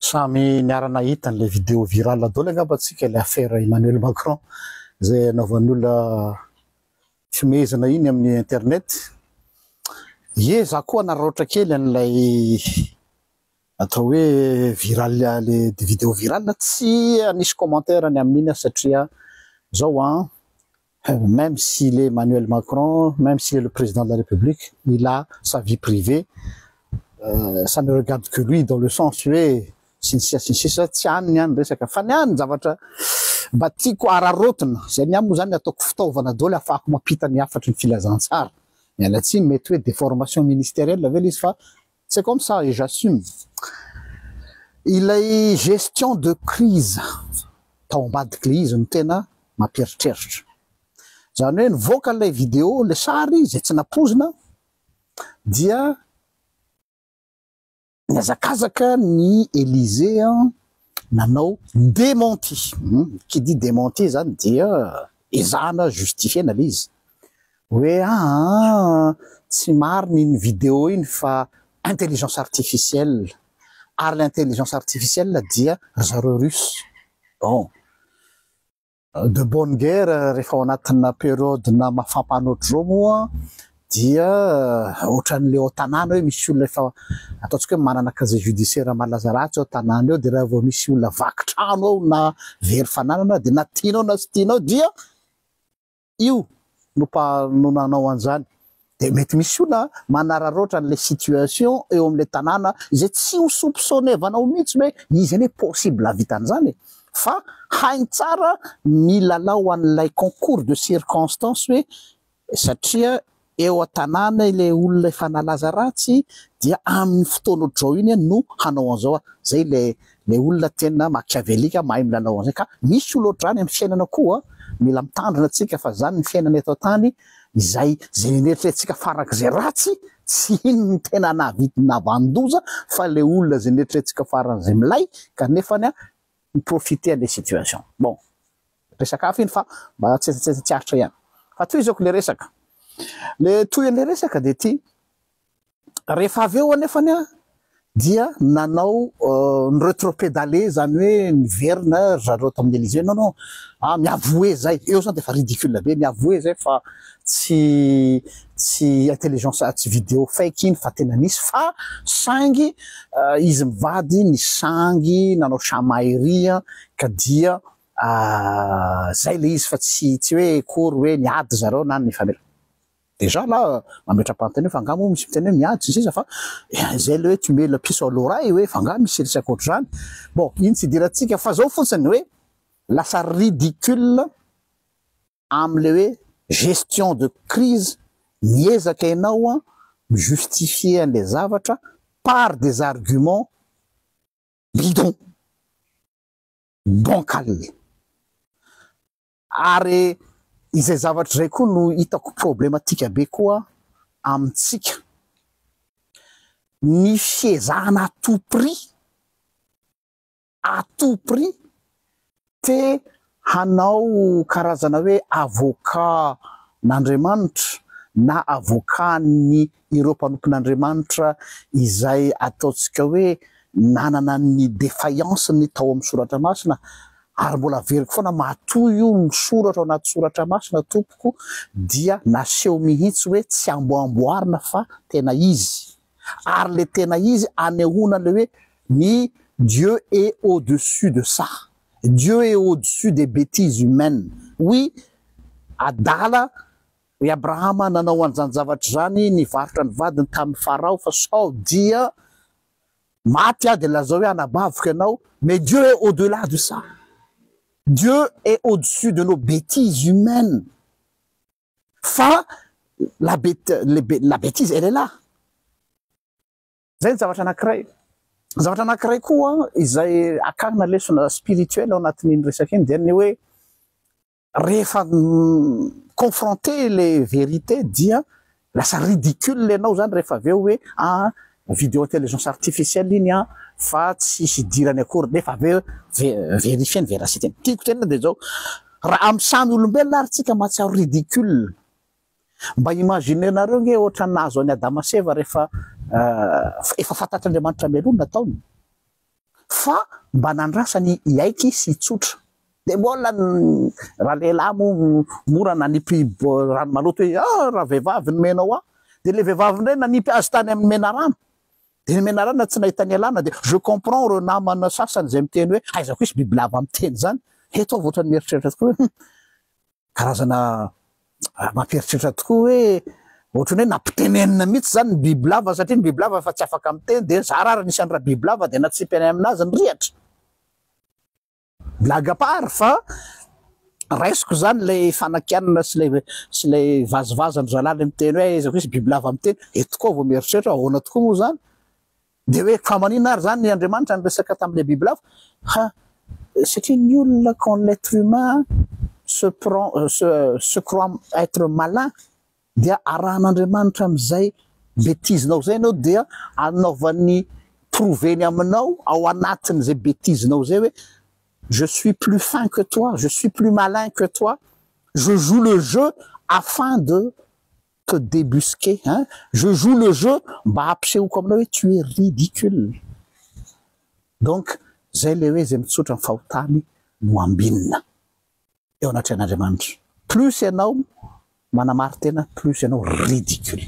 Samy niara nahita an'ilay vidéo virale daholo angamba tsika ilay affaire Emmanuel Macron izay anaovan'ny olona fihomehezana iny amin'ny internet. Ye za koa nararaotra kely an'ilay atao hoe virale le vidéo virale tsy hanisy commentaire ny amin'iny aho satria zao an Même s'il est Manuel Macron, même s'il est le président de la République, il a sa vie privée, ça ne regarde que lui dans le sens hoe sy ny sisa sy ny sisa, tsy any ny any resaka fa ny any zavatra mba tiako araraotina, zay ny ahy moa zany ataoko fitaovana daholo ahafahako mampita ny hafatry ny filazantsara, miala tsiny mety hoe déformation ministérielle ve le izy fa C'est comme ça et j'assume. Ilay gestion de crise tao ambadika ilay izy no tena mampieritreritra. Izany hoe nivoaka ilay vidéo, ilay sary izay tsy nampoizina dia nihazakazaka ny Elysée nanao dementi, qui dit dementi zany dia ezahana justifier-na le izy hoe aa tsy marina iny video iny fa intelligence artificielle, ary le intelligence artificielle dia ry zareo russe, bon. De bonne guerre, rehefa ao anatina periodina mafampana ohatr'izao moa dia ohatran'ilay ao tanàna hoe misy olona efa ataontsika hoe manana casier judiciaire malaza ratsy ao tanàna eo dia raha vao misy olona vaky trano ao na very fananana dia na tianao na tsy tianao dia io no mpanao an'izany. Dia mety misy olona manararaotra an'ilay situation eo amin'ilay tanàna izay tsy ho soupçonnevanao mihitsy hoe izy anie possible hahavita an'izany e! Fa hainy tsara ny lalao an'ilay concours de circonstances hoe satria eo an-tanàna ilay olona efa nalaza ratsy dia amin'ny fotoana ohatr'izao iny no hanao an'izao a! Izay ilay Ilay olona tena machiavellique mahay milalao an'izay ka misy olona ohatr'izany amin'ny fiainana koa, mila mitandrina tsika fa izany ny fiainana eto an-tany, izay izay neritreretintsika farak'izay ratsy tsy iny no tena nahavita nahavanon-doza fa ilay olona izay neritreretintsika faran'izay milay kanefa mi-profiter an'ilay situation. Bon, resaka hafa iny fa mba tsetsatsetsa tsy aritra ihany. Fa tohizako ilay resaka. Ilay tohin'ilay resaka dia ity, Rehefa avy eo anefany dia nanao ny retropedale izany hoe niverina ry zareo tamin'ny Elysee. Non non, mi avouer izay, eo izany dia efa ridicule be, mi avouer izay fa tsy tsy intelligence, tsy video fake iny fa tena nisy fa saingy izy mivady nisangy nanao chamaillerie ka dia izay ilay izy fa tsy tsy hoe akory hoe niady ry zareo na nifanera. Déjà là mametra-panontaniana hoe fa angaha moa misy miteny hoe miady sy ny sisa fa izay ilay hoe tu mets la piece à l'oreille hoe fa angaha misy resy ankoatr'izany. Bon, iny tsy idirantsika fa izao fotsiny hoe lasa ridicule amin'ilay hoe gestion de crise miezaka ianao mi justifier an'ilay zavatra par des arguments bidons, bancals. Ary izay zavatra izay koa no hitako problematika be koa amintsika, ny fiezahana à tout prix, à tout prix, te hanao karazana hoe avocat n'Andriamanitra na avocat ny ireo mpanompon'Andriamanitra izay ataontsika hoe nanana ny defaillance-ny tao amin'ny soratra masina ary mbola averiko foana matoa io misoratra ao anaty soratra masina tompoko dia naseho mihitsy hoe tsy amboamboarina fa tena izy ary le tena izy anehoana le hoe ny Dieu est au dessus de ça Dieu est au dessus des betises humaines oui adala I Abrahama nanao an'izany zavatra izany, nivarotra ny vadiny tamin'i Farao fa sao dia maty aho dia lazao hoe anabaviko ianao, mais Dieu est au delà de ça, Dieu est au dessus de nos betises humaines, fa la bete, la betise elle est là. Izay ny zavatra anankiray. Zavatra anankiray koa izay akarina lesona spirituel ao anatin'iny resaka iny dia ny hoe Rehefa confronter le vérité dia lasa ridicule ianao zany rehefa avy eo hoe ah video intelligence artificielle iny an fa tsy hidirany akory nefa avy eo verifier ny véracité-ny. Tiako tenenina dia izao, raha amin'ny samy olombelona ary tsika mahatsiaro ridicule, mba imaginer-nareo ange ohatran'ny nahazo an'i Adama sy Eva rehefa efa fantatr'Andriamanitra mialoha ny nataony. Fa mba nandrasany hiaiky izy sy hitsotra. Dia mbola ny ralehilahy moa mora nanipy rano maloto hoe, ah! raha vehivavy no menao ahy. Dia ilay vehivavy indray nanipy azy tany amin'ny menarana. Dia ny menarana tsy nahita nialana dia je comprends ireo namana sasany izay miteny hoe aiza koa hisy bibilava miteny izany. Eto aho vao ohatran'ny mieritreritra tokoa hoe, hum! Karazana mampieritreritra tokoa hoe ohatran'ny hoe nampitenenina mihitsy zany ny bibilava satria ny bibilava efa tsy afaka miteny dia za ra nisy any rabibilava dia natsipy any aminazy ny rihatra. Blague à part fa raisiko zany ilay fanakianana sy ilay sy ilay vazivazin'ny zalahy ilay miteny hoe aiza koa izy bibilava miteny, eto koa vao mieritreritra hoe ahoana tokoa moa zany? Dia hoe fa maninona ary izany Andriamanitra niresaka tamin'ilay biby lava? Ha, satria ny olona, quand l'être humain se prend, se, se croit être malin, dia arahan'Andriamanitra amin'izay betizinao izay ianao dia anaovany prouver-ny aminao ao anatin'izay betizinao izay hoe je suis plus fin que toi, je suis plus malin que toi, je joue le jeu afin de te debusquer hein je joue le jeu mba hampisehoko aminao hoe tu es ridicule donc zay le hoe zay mitsotra ny fahotany no ambinina eo anatrehan'Andriamanitra plus ianao manamarin-tena plus ianao ridicule.